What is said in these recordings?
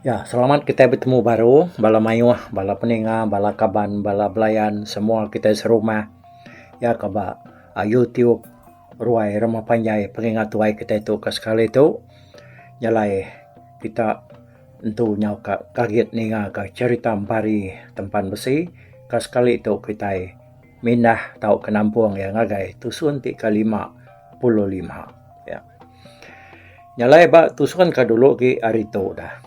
Ya, selamat kitai betemu baru bala mayuh, bala peninga, bala kaban, bala belayan semua kitai serumah. Ya ke ba YouTube ruai rumah panjai pengingat tuai kitai tu ke sekali tu. Jalai kita entu nyau ka kagit ninga ka cherita Empari Tempan Besi. Ka sekali tu kitai. Mindah tauka nampung iya ngagai tusun ti kelima puluh lima. Ya. Nya alai ba tusun ke dulu agi hari tu dah.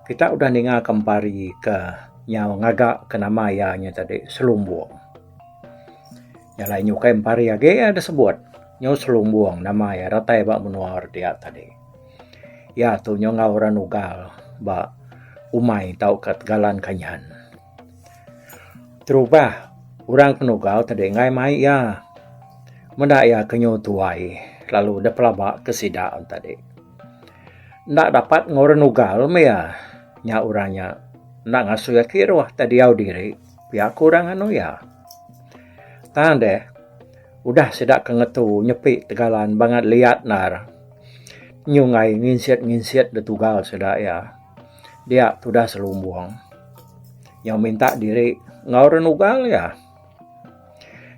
Kita udah ninga ke empari ke nyau ngaga ke nama iya nya tadi selumbung. Nya alai ukai empari agi iya da sebut nyau selumbung nama iya datai ba menua ri dia tadi. Iya tu nyau enggau orang Ugal ba umai tauka tegalan kanyan. Terubah, orang ke nugau tadi enggai mai iya. Meda iya ke nyu tuai lalu deh pelaba ke sida on tadi. Enda dapat enggau orang nugau meh iya. Nya orang nya enda ngasuh iya kiruh tai diau diri pia ku orang anu iya. Tang deh udah sida ke ngetu nyepi tegalan bangat liat endar nyu enggai nginsit-nginsit deh tugal sida iya. dia tudah selumbung nyau minta diri enggau orang nugal iya.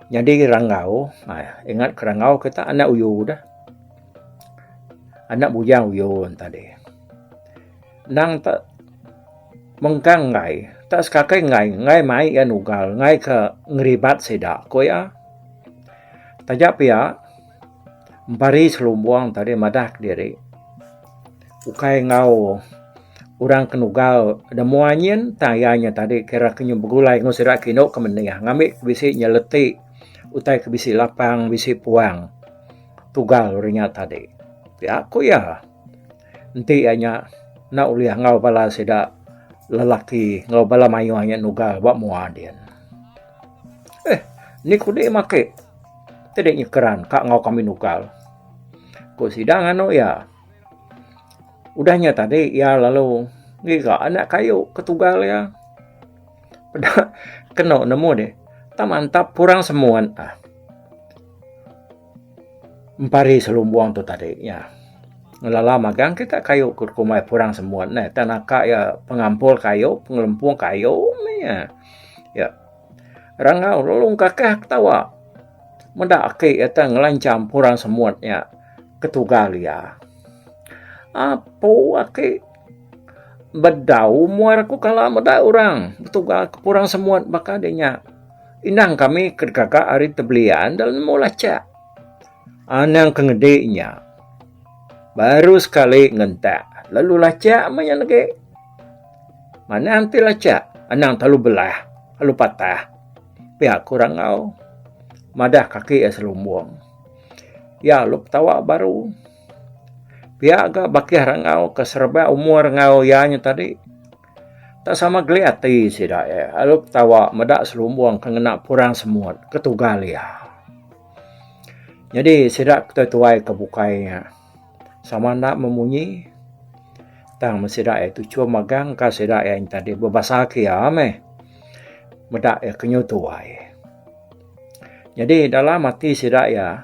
Nyadi ranggau, ha, ingat ke ranggau kita anak uyu dah. Anak bujang uyun tadi. Nang tak mengkang ngai, tak sekakai ngai, ngai mai iya nugal, ngai ke ngeribat sida ko iya. Taja pia, bari selumbung tadi madah diri. Ukai enggau orang ke nugal da mua nyin tang iya nya tadi kira ke nyau begulai enggau sida ke indu ke menih ngambi ke bisi nyeleti utai ke bisi lapang bisi puang tugal ri nya tadi. Pia ku iya enti iya nya enda ulih enggau bala sida lelaki enggau bala mayuh nya nugal ba mua din. Eh ni ku dek mak ake ti dek nyekeran ka enggau kami nugal ku sida nganu iya. Udah nya tadi iya lalu ngiga anak kayu ke tugal iya. Peda kenu nemu deh. Ta mantap kurang semun ah. Empari selumbung tu tadi nya. Ngelala magang kita kayu ke rumah kurang semun neh. Ta naka iya pengampul kayu, pengelempung kayu meh iya. Iya. Rangau lalu ngkakah ketawa. Meda aki iya teh ngelancham orang semut nya ketugal iya. Apu aki bedau muar aku kala meda orang betugal ke orang semut baka deh nya. Endang kami ke gaga ari Tebelian enda nemu lachak. Anang ke ngedi nya baru sekali ngentak lalu lachak meh nya legi. Manang ti lachak anang telalu belah lalu patah. Pia ku Rangau madah kaki iya selumbung. Iya alu petawa baru. Pia ga bakih Rangau ke serebak umur enggau iya nya tadi. Tak sama geli ati sida iya alu petawa meda selumbung ke ngena purang semut ketugal iya. Nyadi sida ke tuai-tuai ke bukai nya. Sama enda memunyi tang men sida iya tu chum megang ka sida iya nya tadi bebasaka iya meh meda iya kenyau tuai. Nyadi dalam ati sida iya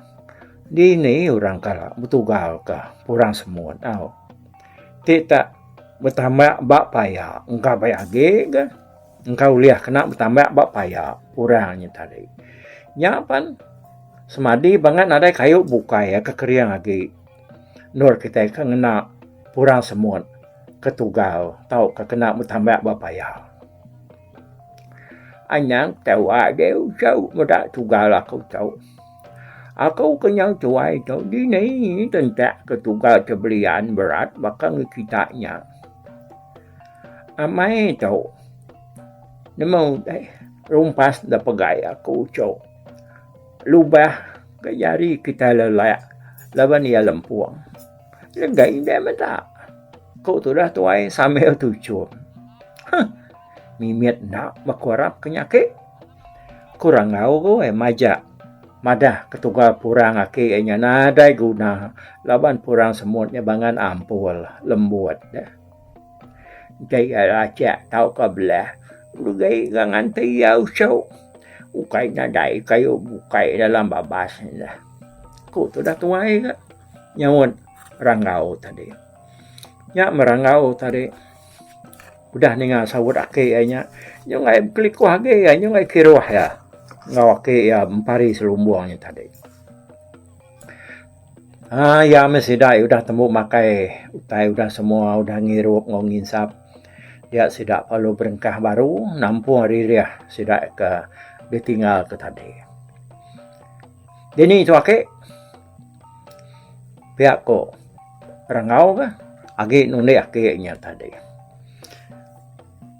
dini orang ka betugal ka orang semut tau. Ti tak betama ba paya engka paya agi ka. Engka ulih kena betambak ba paya orang nya tadi. Nya pan semadi bangat nadai kayu bukai ke kering agi endur kitai ke ngena purang semut ke tunggal tauka kena betambak ba paya. Anang tau agi uchu meda tunggal aku tu. Aku ke nyau tuai tu dini tentak ke tunggal ke belian berat baka ngi kita nya. Amai tu nemu utai rumpas da pegai aku uchu lubah ke jari kitai lelak laban iya lempung lega indai meda ku tudah tuai sambil tuchum huh mimit enda ba ku arap ke nya ake ku rangau goi majak madah ketugal purang ake nya nadai guna laban purang semut nya bangan ampul lembut. Enti iya lacak tauka belah, ugai ga nganti iya usau. Ukai nadai kayu bukai dalam babas nya, ku tudah tuai ga nyaut Ranggau tadi. Nya meh Ranggau tadi udah ninga saut aki iya nya, nyungai bekelikuh agi iya, nyungai kiruh iya enggau aki iya Empari Selumbung nya tadi. Aaa iya meh sida udah tembu makai utai udah semua udah ngirup enggau nginsap dia sida perlu berengkah baru nampung ririh sida ke ditinggal ke tadi. Dini tu ake pia ko rengau ke agi nulik ake nya tadi.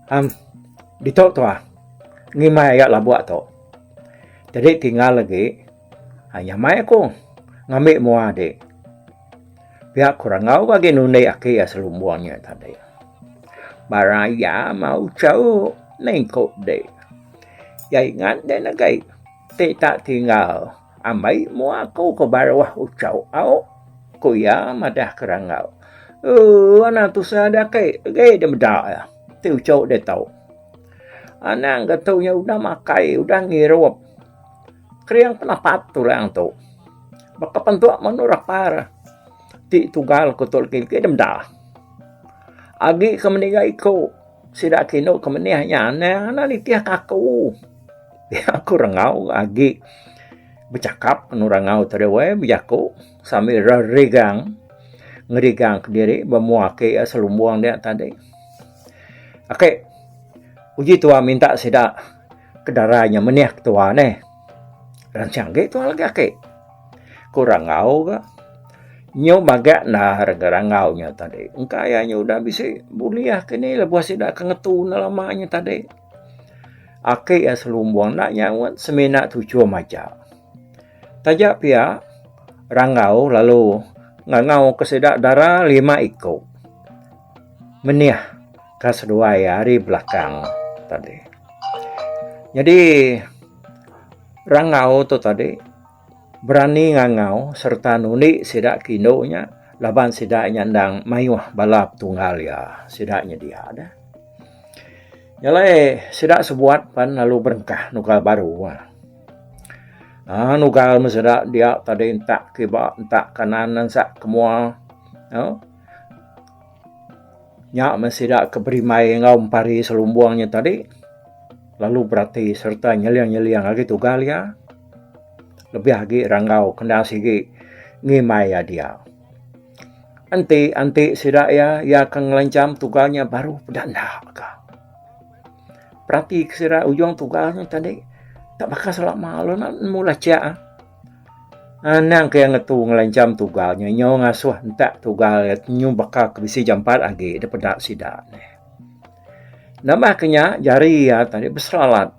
Am ditok tuah ngimbai iya labok tu jadi tinggal agi. Aiyah mai aku ngambi mua dik. Pia ku Rangau bagi nundi aki iya selumbung nya tadi. Ba raya mau cheu ning ku dik. Iya ingat din agi ti tak tinggal ambi mua aku ke baruh uchu au ku iya madah ke Rangau. Ooh anang tusah dak aki agi dak meda iya ti uchu ditu. Anang ke tu nya udah makai udah ngirup. Kering ke napat tu orang tu. Baka pentok menu rapar. Ti tugal ku tu legi ke meda. Agi ke meniga iko sida ke inu ke menih nya anang anak nitih ka aku. Aku rengau agi bechakap enun rengau tu deh weh bejaku sambil rerigang ngerigang kediri bemua ke selumbung dia tadi. Ok uji tuan minta sida. Kedarai nya menih ke tua neh. Ransang agi tua lagi aki. Ku rangau ga. Nyu maga nah rega rangau nya tadi. Engka iya nya udah bisi bulih ke ni lebuh sida ke ngetu enda lama nya tadi. Aki iya selumbung enda nyaut semina tuchum aja. Taja pia rangau lalu ngangau ke sida dara lima iku. menih ka seduai ari belakang tadi. Nyadi rangau tu tadi berani ngangau sereta nundi sida ke indu nya laban sida nya endang mayuh bala petunggal iya sida nyedia deh. Nya alai sida sebuat pan lalu berengkah nugal baru ah. Ah nugal meh sida dia tadi entak kiba entak kanan ensak ke mua. Au. Nya meh sida ke berimai enggau empari selumbung nya tadi lalu berati sereta nyeling-nyeling agi tugal iya lebih agi ranggau kena sigi ngimai iya dia. Enti-enti sida iya, iya akan ngelancham tugal nya baruh peda enda ka. Peratika sida ujung tugal nya tadi enda baka selama lalu enda nemu lachak ah. Anang ke iya ngetu ngelancham tugal nya nyau ngasuh entak tugal iya nyu baka ke bisi jampat agi da peda sida nih. Nambah ke nya jari iya tadi beseralat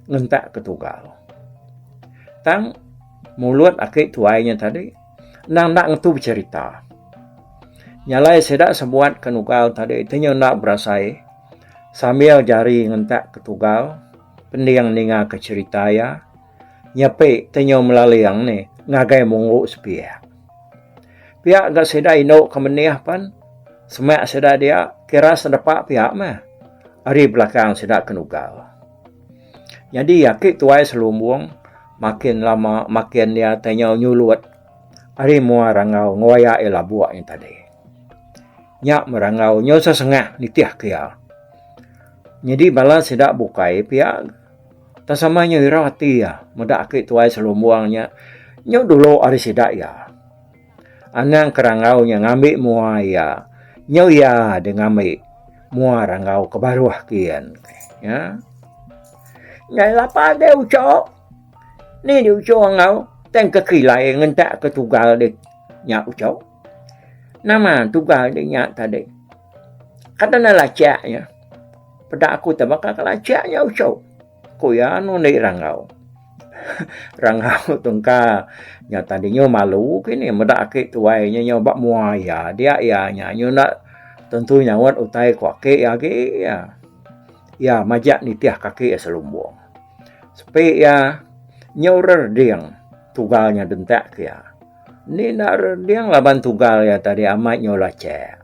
ngentak ke tugal. Tang mulut aki tuai nya tadi endang enda ngetu becherita. Nya alai sida sebuat ke nugal tadi ti nya enda berasai sambil jari ngentak ke tugal pending ninga ke cherita iya. nyepi tenyau melaling nih ngagai munggu sepiak. Pia ga sida indu ke menih pen semak sida dia kira sedepa pia meh ari belakang sida ke nugal. Nyadi aki tuai selumbung makin lama makin iya tenyau nyulut ari mua rangau ngewayak iya labuk nya tadi. Nya meh rangau nyau sesengah nitih ke iya. Nyadi bala sida bukai pia. Tang sama nya ira ati iya meda aki tuai selumbung nya nyu dulu ari sida iya. Anang ke ranggau nya ngambi mua iya nyu iya deh ngambi mua ranggau ke baruh kian nya. Nyai lapar deh uchup. Ni deh uchup enggau tang ke kilai ngentak ke tugal deh nya uchup. Nama tugal deh nya tadi. Kada enda lacak nya. Peda aku te baka kelacak nya ucau. Ku iya anu ndi rangau. rangau tu engka nya tadi nyu malu kini meda aki tuai nya nyu ba mua iya dia iya nya nyu enda tentu nyaut utai ku aki iya agi iya. Iya majak nitih kaki iya selumbung. Sepi iya nyu rerding tugal nya dentak ke iya. Ndi enda rerding laban tugal iya tadi amat nyu lacak.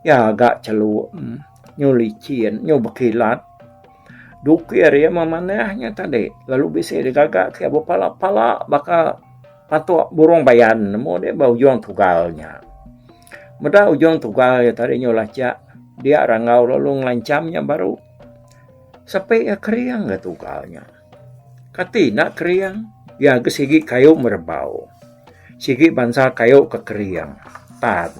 Iya ga cheluk nyu lichin nyu bekilat dukir iya meh manah nya tadi lalu bisi deh gaga ke bepala pala baka patok burung bayan amu deh ba ujung tugal nya. Meda ujung tugal iya tadi nyu lachak dia rangau lalu ngelancham iya baru sepi iya kering ga tugal nya. Kati enda kering iya ke sigi kayu merebau sigi bansa kayu ke kering tan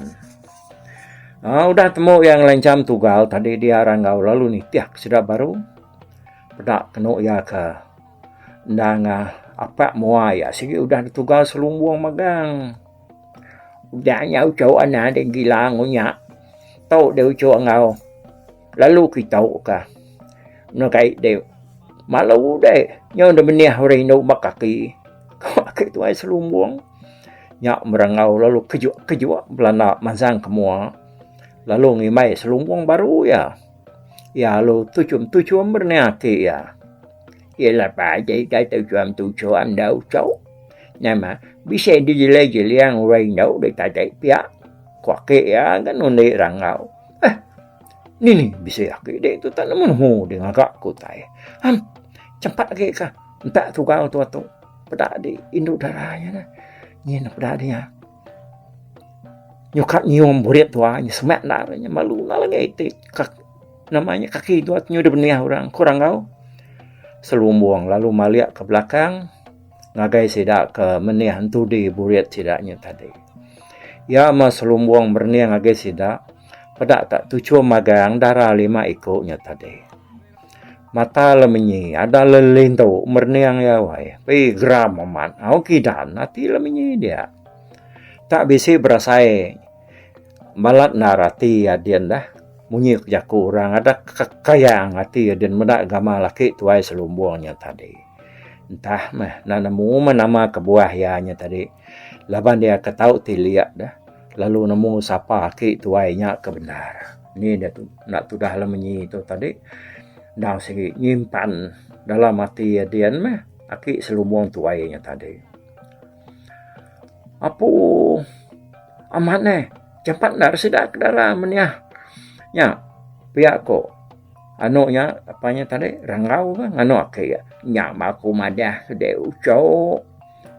aaa udah temu iya ngelancham tugal tadi dia orang enggau lalu nitih ke sida baru peda kenu iya ke enda ngah apak mua iya sigi udah ditugal selumbung megang udah nya uchu anang deh gila ngunya tu deh uchu enggau. Lalu ke tauka enda kai deh malu udai nyau enda menih orang indu ba kaki ake tuai selumbung nya merengau lalu kejok kejok belanda mansang ke mua lalu ngimbai selumbung baru iya. Iya lalu tuchum tuchum ber nia ati iya. Iya lepa aja ida tuchum tuchum enda uchu neh mah bisi di jeling jeling orang indu ditaja pia ku ake iya kan undi rangau. Nini bisi aki dek tu tak nemu nemu di ngaga ke utai. Am, cepat lagi ka. Entak tugau tu atu. Peda di indu dara ya na. Nyin peda di ya. Nyukat nyium burit tua. Nyi semak na. Nyi malu na lagi iti. Kak, namanya kaki tua tu nyudah benih orang. Kurang kau. Selumbung lalu malik ke belakang. Ngagai sida ke menih entudi burit sida nyi tadi. Ya ma selumbung berenih ngagai sida. Sida. peda ka tuchum magang dara lima iku nya tadi. Mata Lemenyi ada lelintu merening iya wai. Pi geram amat. Au kidan ati Lemenyi dia. Tak bisi berasai balat endar ati iya din dah. Munyi ku jaku orang ada kekayang ati iya din meda gamal laki tuai selumbung nya tadi. Entah meh enda nemu meh nama kebuah iya nya tadi. Laban iya ke tau ti liak deh lalu nemu sapa aki tuai nya ke bendar. Ni deh tu enda tudah le menyi tu tadi endang sigi nyimpan dalam ati iya din meh aki selumbung tuai iya nya tadi. Apu amat neh jampat enda re sida ke dara meniah nya pia ko anu nya apa nya tadi ranggau ke nganu aki iya. Nya ba ku madah sidi uchu.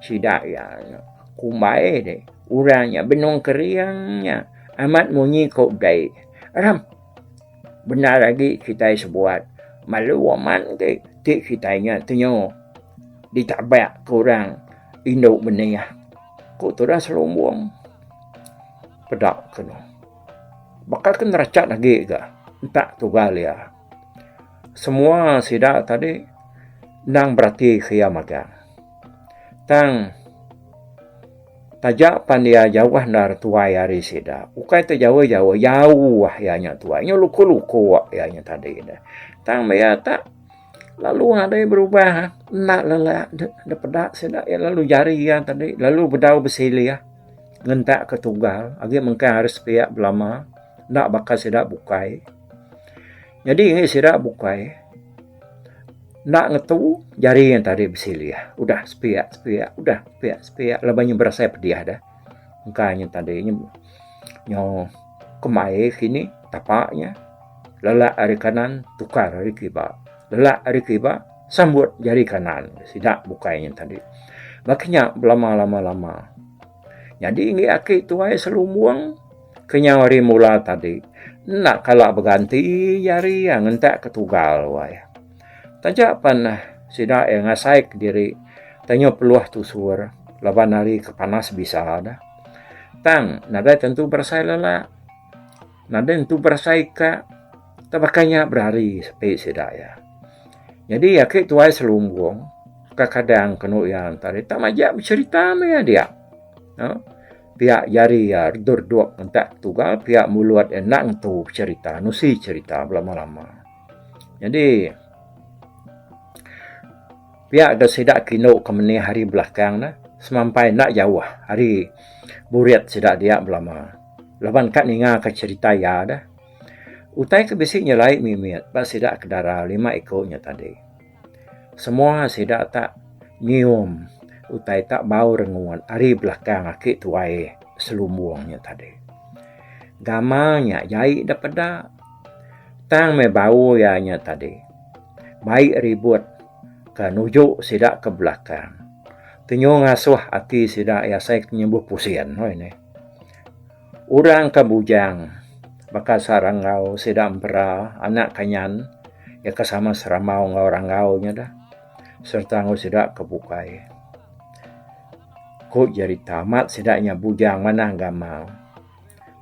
Sida iya nya kumbai deh orang nya benung kering nya amat munyi ko dei ram bendar agi kitai sebuat malu amat agi ti kitai nya tenyo ditabak ko orang indu benih ko tudah selumbung peda ko no baka ke nerachat agi ga entak tugal iya. Semua sida tadi endang berati ke iya magang. Tang taja pan iya jauh endar tuai ari sida, ukai tu jauh-jauh, jauh iya nya tuai. Nya luko-luko iya nya tadi ne. Tang maya ta lalu nadai berubah enda lele da peda sida iya lalu jari iya tadi lalu bedau besilih ngentak ke tunggal agi mengkang ari sepiak belama enda baka sida bukai. Nyadi ngi sida bukai enda ngetu jari ngan tadi besilih udah sepiak sepiak udah sepiak sepiak laban inya berasai pedih deh engka nyen tadi nyau kemai kini tapa inya lelak ari kanan tukar ari kiba lelak ari kiba sambut jari kanan sida bukai nyen tadi ba kinya belama lama lama. Nyadi enggi aki tuai selumbung ke nyau hari mula tadi enda kala beganti iya hari iya ngentak ke tugal wai. Taja pen sida iya ngasai ke diri tenyup peluh tusur laban hari ke panas bisa da. Tang nadai tentu berasai lala. Nadai nentu berasai ka tau baka nya berari sepi sida iya. Nyadi aki tuai selumbung ka kadang kenu iya ngantar iya tau majak beserita meh iya dia. Aaa pia jari iya redut redut entak ketugal pia mulut iya enda nentu beserita nusi serita belama lama. Nyadi. Pia ga sida kinu ke menih hari belakang ne semampai enda jauh ari burit sida dia belama laban ka ninga ka cherita iya deh. Utai ke bisi nyelai mimit ba sida ke dara lima iku nya tadi. Semua sida tak nyium utai tak bau rengut ari belakang aki tuai selumbung nya tadi. Gamal nya jai deh peda tang meh bau iya nya tadi. mai ribut ka nuju sida ke belakang tenyu ngasuh ati sida iya asai ke nyembuh pusin oi neh orang ke bujang baka sa rangau sida empera anak kanyan iya ke sama seramau enggau rangau nya deh serta enggau sida ke bukai ku jerita amat sida nya bujang manah gamal.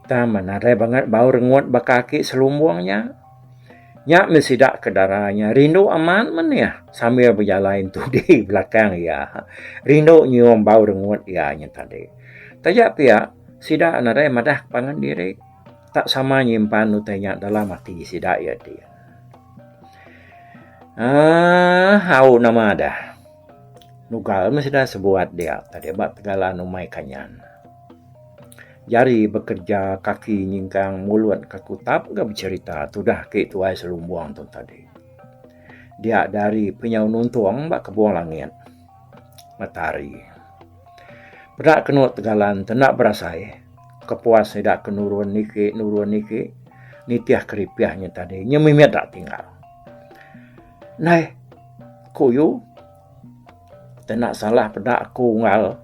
Tang men nadai bangat bau rengut baka aki selumbung nya. Nya meh sida ke dara nya rindu amat manih sambil bejalai entudi belakang iya. Rindu nyium bau rengut iya nya tadi. Taja pia sida nadai madah ke pangan diri tak sama nyimpan utai nya dalam ati sida iya ti. Aaa au nama deh. Nugal meh sida sebuat dia tadi ba tegalan umai kanyan. Jari bekerja kaki nyingkang mulut ka kutap ga becerita tudah ke tuai selumbung tu tadi. Dia dari penyau nuntung ba kebung langit matahari. Peda kenu tegalan te enda berasai kepuas sida ke nurun niki nurun niki nitih keripih nya tadi nya mimit da tinggal. Nai ku u. Tak nak salah peda aku unggal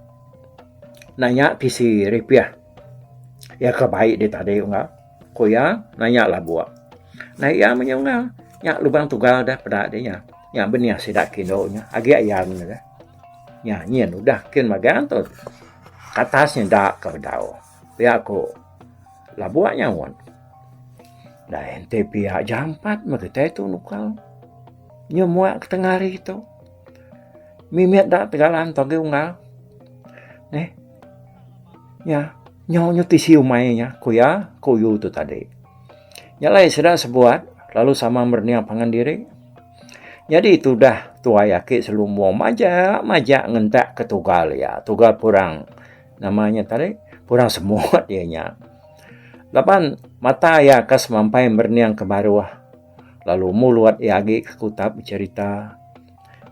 nanya tisi ripiah iya ke bai dih tadi unggal ku iya nanya labuk nai iya meh nya unggal nya lubang tunggal dah peda dih nya nya benih sida ke indu nya agi ayan ne dah nya nyin udah kin magang tu katas nya enda ke bedau. Pia ku labuh nyaut. Dai enti pia jampat meh kitai tu nukal. Nya mua ke tengah hari tu. Mimit da tegalan tu agi unggal. Neh. Nya nyau nyu ti siu mai nya ku iya ku yu tu tadi. Nya lai sida sebuat lalu sama mernia pangan diri. Nyadi tudah tuai aki selumong majak majak ngentak ke tugal iya. Tugal purang. Nama nya tadi? Kurang semut iya nya. Laban mata iya ka semampai merening ke baruh. Lalu mulut iya agi ke kutap becerita.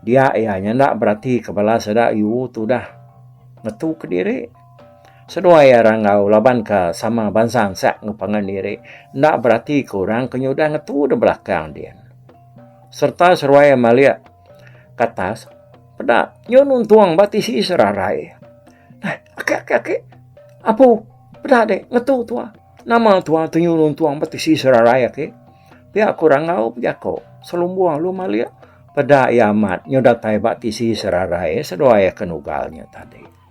Dia iya nya enda berati ke bala seda yu tu dah ngetu ke diri. Seduai iya ranggau laban ka sama bansa ensak enggau pangan diri. Enda berati ke orang ke nyudah ngetu da belakang din. Serta seruai iya malik. Katas, peda nyu nuntung ba tisi serarai. Nah, aki aki aki. Apu, peda dek ngetu tua. Nama tua tu nyu nuntung ba tisi serarai aki. Pia ku Rangau bejako. Selumbung lu malik peda iya amat nyu datai ba tisi serarai seduai kenugal nyu tadi.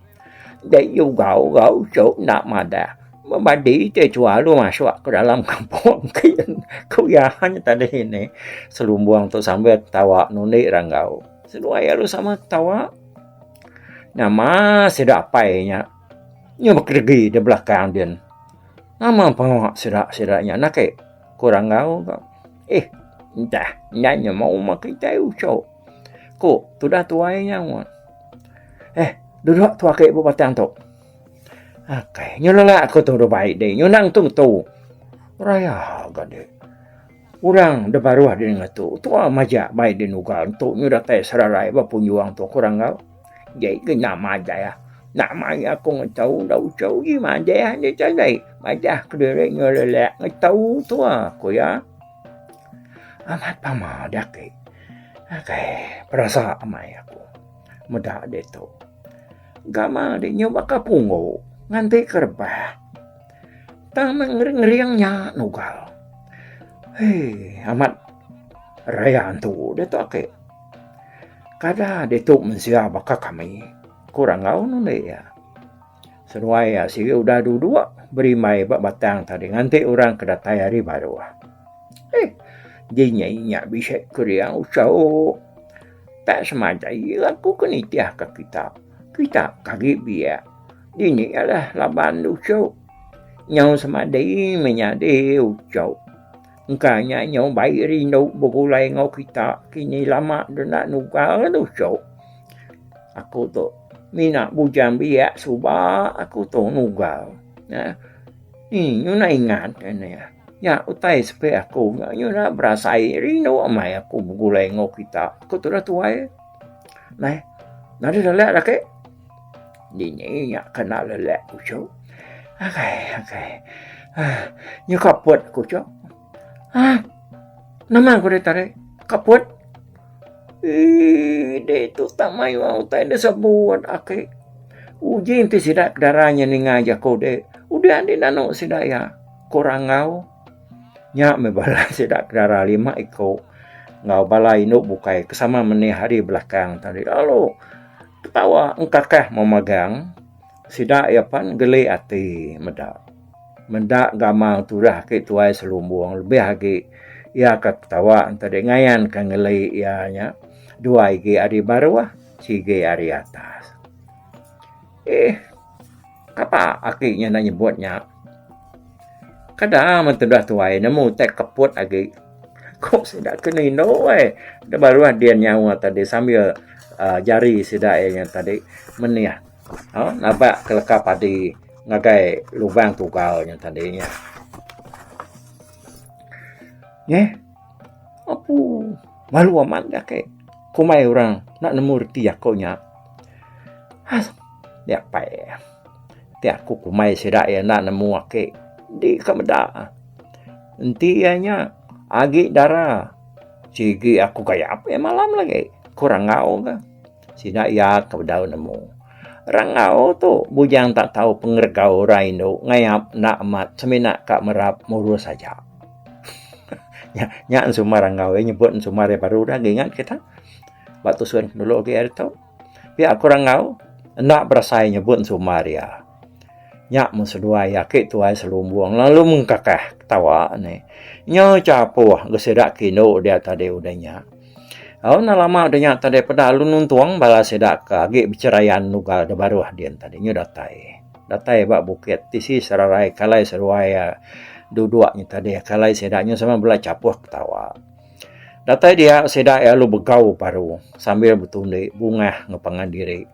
Dei ugau gau cu enda madah memadi ti chua lu masuk ke dalam kampung kin ku iya hanya tadi ini selumbung tu sambil ketawa ngundi ra enggau seduai alu sama ketawa nama sida apai nya nyu bekerebi di belakang din nama pengawa sida sida nya na ake ku ra enggau ka eh enda nya mung kitai uchu. Ku tudah tuai nya ngut. Eh, duduk tu aki ba batang tu. Akai, nyu lelak aku tu dua bai deh. Nyu nang tung tu. Raya ga deh. Orang da baruh deh nengah tu. Tu ah majak bai deh nuga tu nyu datai serarai ba punjung tu aku rangau. Jai ke nya majak ah. Nak mai aku ngetau da uchu ih majak ah. Nya chan deh. Majak ke diri nyu lelak ngetau tu ah. Ku iya. Amat amal dia agi. Agai perasa amai aku meda ditu. Gamal di nyu baka punggu nganti ke rebah. Tang meh ngering-ngering nya nugal. Hei amat raya antu ditu agi. Kada ditu mensia baka kami, ku Rangau nulik iya. Seruai iya sigi udah duduk berimbai ba batang tadi nganti orang ke datai hari baru. Eh, dinya inya bisi kering usau. Tak semaja iya aku ke nitih ke kita. Kita kagi biak. Dini ialah laban usau. Nyau semadi menyadi usau. Engka nya nyau bai rindu begulai enggau kita kini lama denda nugal nusu. Aku tu mina bujang biak suba aku tu nugal. Nya nyuna ingat nya. Nya utai sepi aku nyuna berasai rindu amai aku begulai enggau kita. Aku tu dah tuai. Meh nadeh lelek ake. Dini nya kena lelek ku Chok. Agai, agai. Ah, nya kaput ku Chok. Ah, nama ku dia tarik? Kaput? Eh, dia tu tak mayu aku tak ada sabun. Aki. Uji nanti sida darahnya ninga jaku dia. Udah di nanu sida ya. Kurang ngau. Nya me bala sida darah lima iku. Ngau bala indu bukai kesama menih hari belakang tadi. Lalu, Ketawa engkakah memagang sida iya pan geli ati meda. Meda gamal turah agi tuai selumbung lebih agi iya ka ketawa enti deh ngayan ka ngeli iya nya dua igi ari baruh sigi ari atas. Eeh. Kapa aki nya enda nyebut nya. Kada men tudah tuai nemu utai keput agi. Ku sida kenu indu ai da baruh din nyawa tadi sambil aaa jari sida iya nya tadi menih aaa nabak keleka padi ngagai lubang tugau nya tadi nya. Neh. Apu malu amat ga ke komai orang enda nemu reti aku nya. Has nya pai ti aku komai sida iya enda nemu ake di ka meda. Enti iya nya agi dara sigi aku gayap iya malam lagi ku rangau ga. Sida iya ke bedau nemu. Rangau tu bujang tak tau pengeregau orang indu ngayap enda amat semina ka merap murus aja. Nya nya ensuma rangau iya nyebut ensuma ari baru udah ke ingat kita. Ba tusun dulu agi ari tu. Pia ku rangau enda berasai nyebut ensuma ri iya. Nya mun seduai aki tuai selumbung lalu mengkakah ketawa ni. Nyau chapuh ke sida ke indu dia tadi udah nya. Au enda lama denya tadi peda lalu nuntung bala sida ke agi becherayan nugal da baruh din tadi nyu datai. Datai ba bukit tisi serarai kalai seruai iya duduk nyu tadi. Kalai sida nyu sama bela chapuh ketawa. Datai dia sida iya lalu begau paru sambil betundi bungah enggau pangan diri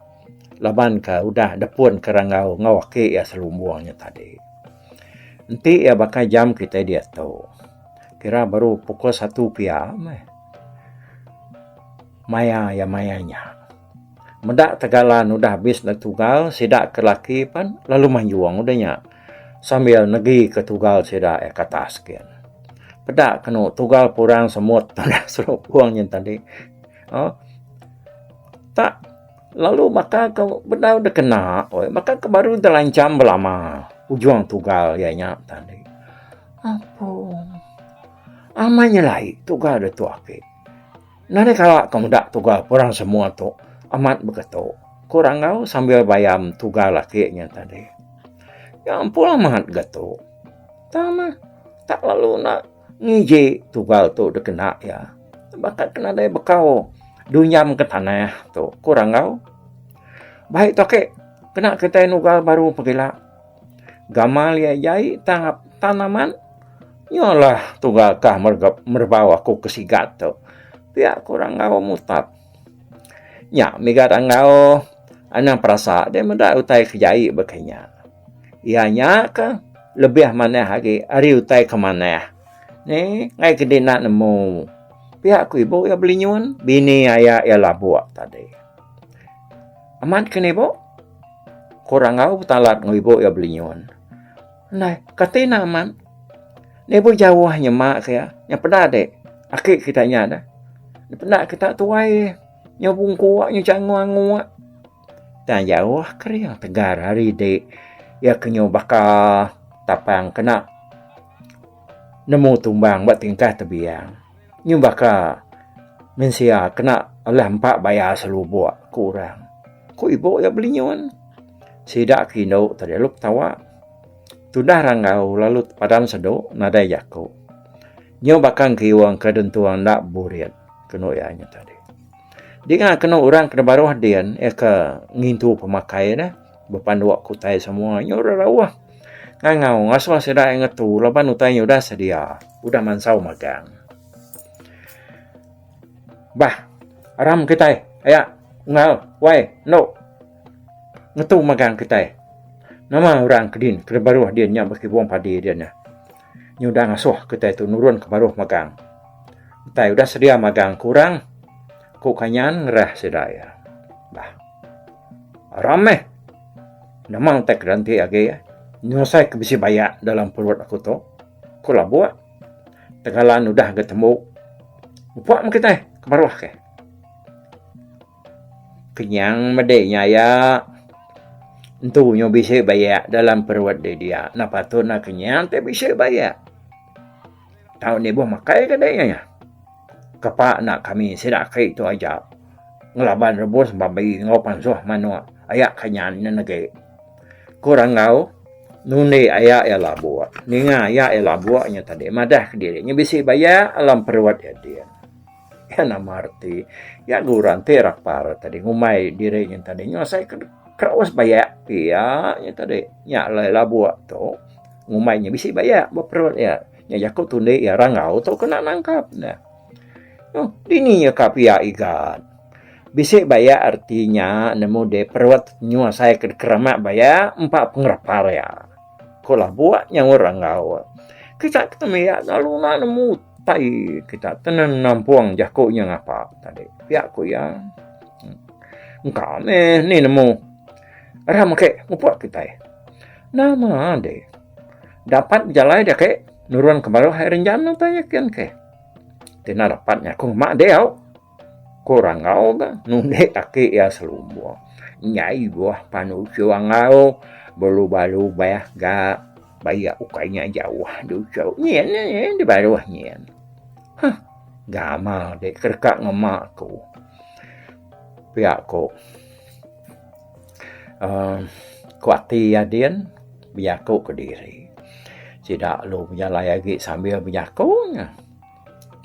laban ke udah depun ke rangau enggau aki iya selumbung nyu tadi. Enti iya baka jam kitai diatu. Kira baru pukul satu pia meh maya iya maya nya. Meda tegalan udah habis ndek tugal, sida ke laki pen lalu manjung udah nya sambil negi ke tugal sida iya ke atas gin. Peda kenu tugal purang semut nengah serupung nya tadi. Aaa tak. Lalu baka ke bedau dikena oi, baka ke baru dilancham belama ujung tugal iya nya tadi. Ampung. Amat nyelai tugal ditu ake. Nadai kala ke meda tugal ke orang semua tu amat beketu, ku Rangau sambil bayam tugal laki nya tadi. Nya ampung amat getu. Tang neh tak lalu enda. Ngeji tugal tu dikena iya baka ke nadai bekau dunyam ke tanah tu, ku Rangau. Baik tu agi kena kitai nugal baru pegila. Gamal iya jai tang tan amat. Nyolah tugal ka meregap merebau aku ke sigat tu, pia ku Rangau mutap. Nya mega Rangau anang perasa deh meda utai ke jai baka inya. Iya nya ke lebih manah agi ari utai ke manah. Ni ngai ke dina nemu pia ku ibu iya belinyun bini aya iya labuk tadi. Amat ke ni ibu ku Rangau betalat enggau ibu iya belinyun. Neh kati ne amat ni ibu jauh nyema ke iya nya peda deh aki kita nya deh peda kita tuai nyau bungku nyau changu angu. Tang jauh kering tegar hari ti iya kenyu baka tapang kena nemu tumbang ba tingkah tebiang nyu baka mensia kena alah empa baya selubok ku orang. Ku ibu iya belinyun sida ke indu ti lalu betawa tudah rangau lalu padan sedu nadai jaku nyu baka engkiung ke dentung enda burit kenu iya nyu tadi. Dinga kenu orang ke nebaruh din iya ke ngintu pemakai ne bepanduk ke utai semua nya orang rauh ngangau ngasuh sida iya ngetu laban utai nya udah sedia udah mansau magang. Bah aram kitai aya enggau wai enu ngetu magang kitai nama orang ke din ke nebaruh din nya beki puang padi din nya. Nya udah ngasuh kitai tu nurun ke baruh magang. Utai udah sedia magang ke orang, ku Kanyan ngerah sida iya. Bah. Aram meh. Nama utai ke dianti agi nyelesai ke bisi bayak dalam perut aku tu? Ku Labuk. Tegalan udah ga tembu. Upuk meh kitai ke baruh ke. Kenyang mede nya iya. Entu nyu bisi bayak dalam perut deh dia. Nah patut nah kenyang te bisi bayak. Tau ni boh makai ke deh iya. Kepak enda kami sida aki tu aja ngelaban rebus babi enggau pansuh manok aya kenyang nya nege. Ku Ranggau nundi aya iya labok. Ninga aya iya labok nya tadi madah ke diri nya bisi bayak alam perut iya ti. Iya nama reti iya ga orang ti rapar tadi ngumbai diri nyin tadi nyau asai ke kraus bayak pia nyin tadi nya alai labuk tu ngumbai nyin bisi bayak ba perut iya nya jaku tundi iya rangau tu kena nangkap ne oh dini iya ka pia igat bisi bayak reti nya ne mudip perut nyau asai ke keramak bayak empa pengerapar iya. Ko lah buat nya orang enggau. Kita kena mia lalu nak nemu tai kita kena nampung jaku nya ngapa tadi. Pia ko ya. Engka meh ni nemu. Ram ke ngupuk kita. Nama ade. Dapat jalai dia ke nurun ke baruh hai renjam nang tanya kin ke. Tina dapat nya ko mak dia. Ku Rangau ga nundi kaki iya selumbung. Nya ibuh panu uchu Angau belubah-lubah ga bayak ukai nya jauh di uchu nyin nyin di baruh nyin. Huh gamal deh ke deka ngema aku. Pia ku uhh ku ati iya din bejaku kediri. Sida lu bejalai agi sambil bejaku nya.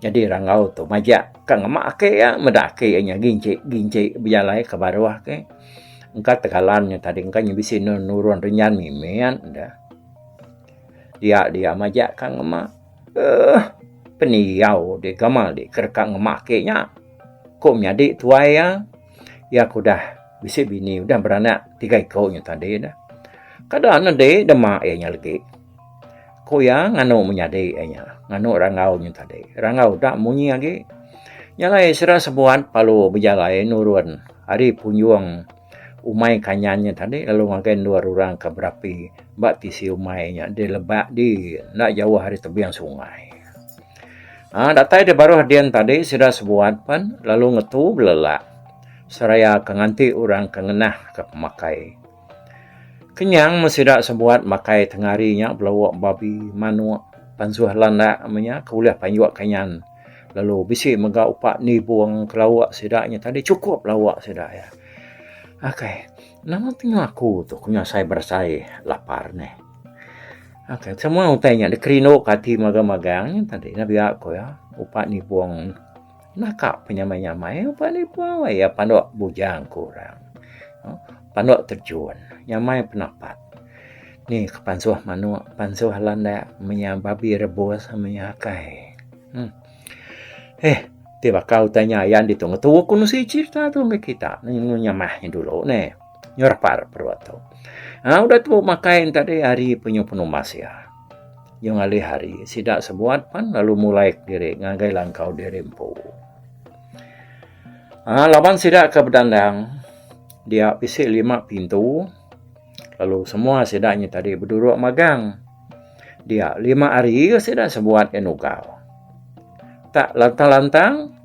Nyadi rangau tu majak ka ngema aki iya meda aki iya nya ginci ginci bejalai ka baruh ke engka tegalan nya tadi engka nya bisi nurun renyan mimet da dia dia majak ka ngema uhh pendiau di gamal di ke deka ngema aki nya ku menyadi tuai iya iya ke udah bisi bini udah beranak tiga iku nya tadi da kada nudi dema iya nya legi. Ku iya, Nganu menyadi iya nya. Nganu rangau nya tadi. Rangau da munyi agi. Nya alai sida sebuat palu bejalai nurun ari punjung umai kanyan nya tadi lalu ngagai endur orang ke berapi ba tisi umai nya di lebak di enda jauh ari tebing sungai. Ha, datai di baruh din tadi sida sebuat pen lalu ngetu belelak seraya ke nganti orang ke ngenah ke pemakai. Kenyang mun sida sebuat makai tengari nya belawok babi, manok, pansuh landak meh nya ke ulih panjok kanyan lalu bisi mega upak nibong ke lawok sida nya tadi chukup lawok sida iya. Okay nama temu aku tu ku nyasai berasai lapar neh. Okay semua utai nya dikerindu ke ati magang-magang nya tadi biak ku iya upak nibong. Naka penyamai-nyamai ba lipa wai iya panduk bujang ke orang. Panduk terjun, nyamai penapat. Ni ke pansuh manuk, pansuh landak menya babi rebus menya akai. Uhh. Heh, ti baka utai nya ayan ditu ngetu ku nusi cherita tu meh kita nemu nyamah nya dulu neh. Nyu rapar perut tu. Au udah tu makai enti ari penyu penumbas iya. Nyau ngalih hari, sida sebuat pan lalu mulaik diri ngagai langkau diri empu. Ha, laban sida ke bedandang, dia bisi lima pintu, lalu semua sida nya tadi beduruk magang. Dia lima hari sida sebuat yang ugal. Tak lantang-lantang,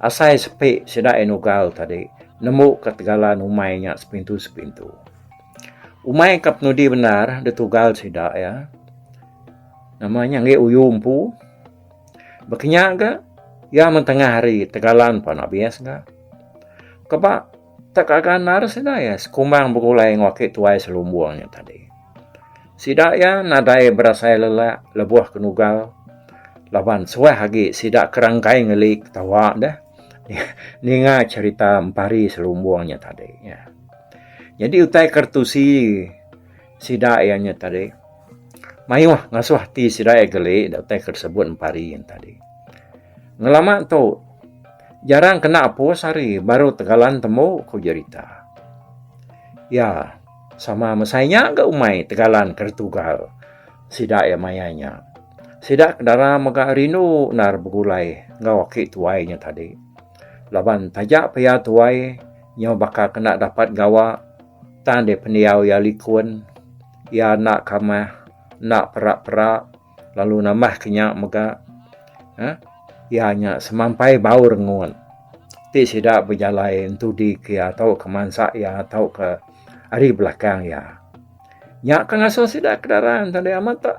asai sepi sida yang ugal tadi, nembu ke tegalan umai nya sepintu-sepintu. Umai ka penudi bendar ditugal sida iya. Nama nya enggai uyu empu. Ba kinya ga iya meh tengah hari tegalan pan abis ga. Kaba tak gaga endar sida iya sekumbang begulai enggau aki tuai selumbung nya tadi. Sida iya nadai berasai lelak lebuh ke nugal laban suah agi sida ke rangkai ngeli ketawa deh ninga cherita empari selumbung nya tadi. Nyadi utai ke retusi sida iya nya tadi mayuh ngasuh ati sida iya geli da utai ke disebut empari nya tadi. Ngelama tu jarang kena opus hari baru tegalan tembu ku jerita. Iya sama masa inya ga umai tegalan ke ditugal sida iya maya inya. Sida ke dara mega rindu endar begulai enggau aki tuai inya tadi. Laban taja pia tuai nyau baka kena dapat gawa tang deh pendiau iya likun. Iya enda kamah, enda perak-perak lalu nambah ke nya mega uhh iya nya semampai bau rengut ti sida bejalai entudi ke iya tauka mansa iya tauka ari belakang iya. Nya ke ngasuh sida ke dara enda deh amat tok.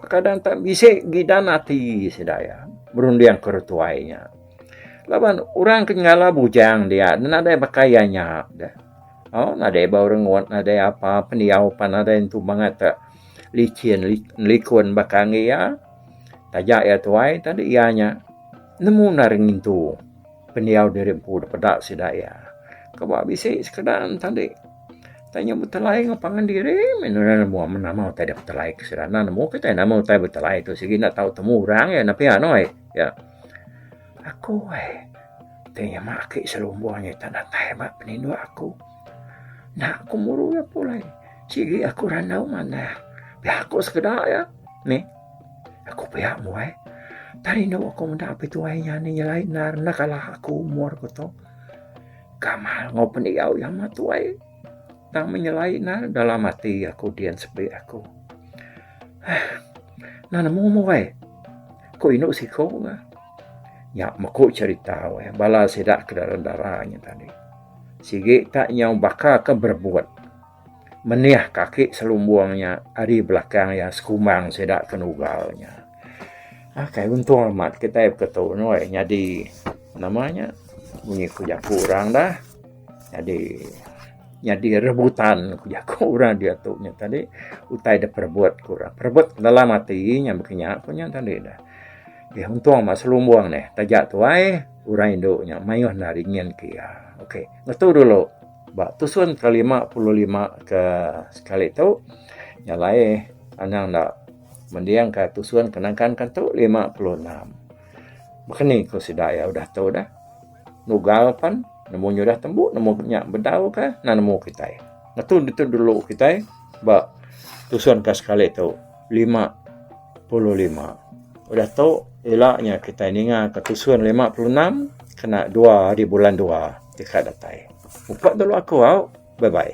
Kadang-kadang bisi gidan ati sida iya berundingka orang tuai nya. Laban orang ke nyala bujang dia nadai baka iya nya dah. Oh, nadai bau rengut, nadai apa pendiau pan nadai entu mangat te licin likun baka ngi iya. Taja iya tuai tadi iya nya nemu nari ngintu pendiau diri empu da peda sida iya. Ke ba bisi sekeda tadi tanya betelai enggau pangan diri menu nya nemu amat nama utai da betelai ke sida. Enda nemu kitai nama utai betelai tu sigi enda tau temu orang iya enda pia anoi. Ya. Aku ai ti nyema aki selumbung nya ita datai ba peninduk aku. Enda ku muru iya pulai. Sigi aku randau manah. Pia ku sekeda iya meh. Aku pia mu ai. Ita rindu aku meda apai tuai nya nih nyelai endar enda kalah aku umur ku tu. Kamal enggau pendiau iya amat tuai tang meh nyelai endar dalam ati aku din sepi aku. Enda nemu mu ai. Ko indu siko ga. Nya meko cerita weh bala sida ke dalam dara nya tadi. Sigi ta nyau baka ke berebut. Menih kaki selumbung nya ari belakang iya sekumbang sida ke nugal nya. Ah kai untung amat kitai ke tu nuh nyadi nama nya bunyi ku jaku orang dah. Nyadi Nyadi rebutan ku jaku orang diatu nya tadi utai da perebut ku orang. Perebut dalam ati nya baka nya ku nya tadi dah. Okey untung amat selumbung neh. Taja tuai orang indu nya mayuh enda ri nyin ke iya. Okey ngetu dulu ba tusun ke lima puluh lima ke sekali tu nya alai anang enda mending ka tusun ke nangkan ke tu lima puluh enam. Baka ni ku sida iya udah tu dah. Nugal pen nemu nyudah tembu nemu nya bedau ka na nemu kitai. Ngetu ditu dulu kitai ba tusun ka sekali tu lima puluh lima. Udah tu ila nya kitai ninga ka tusun lima puluh enam kena dua ari bulan dua ti ka datai. Mupok dulu aku au. Bye bye.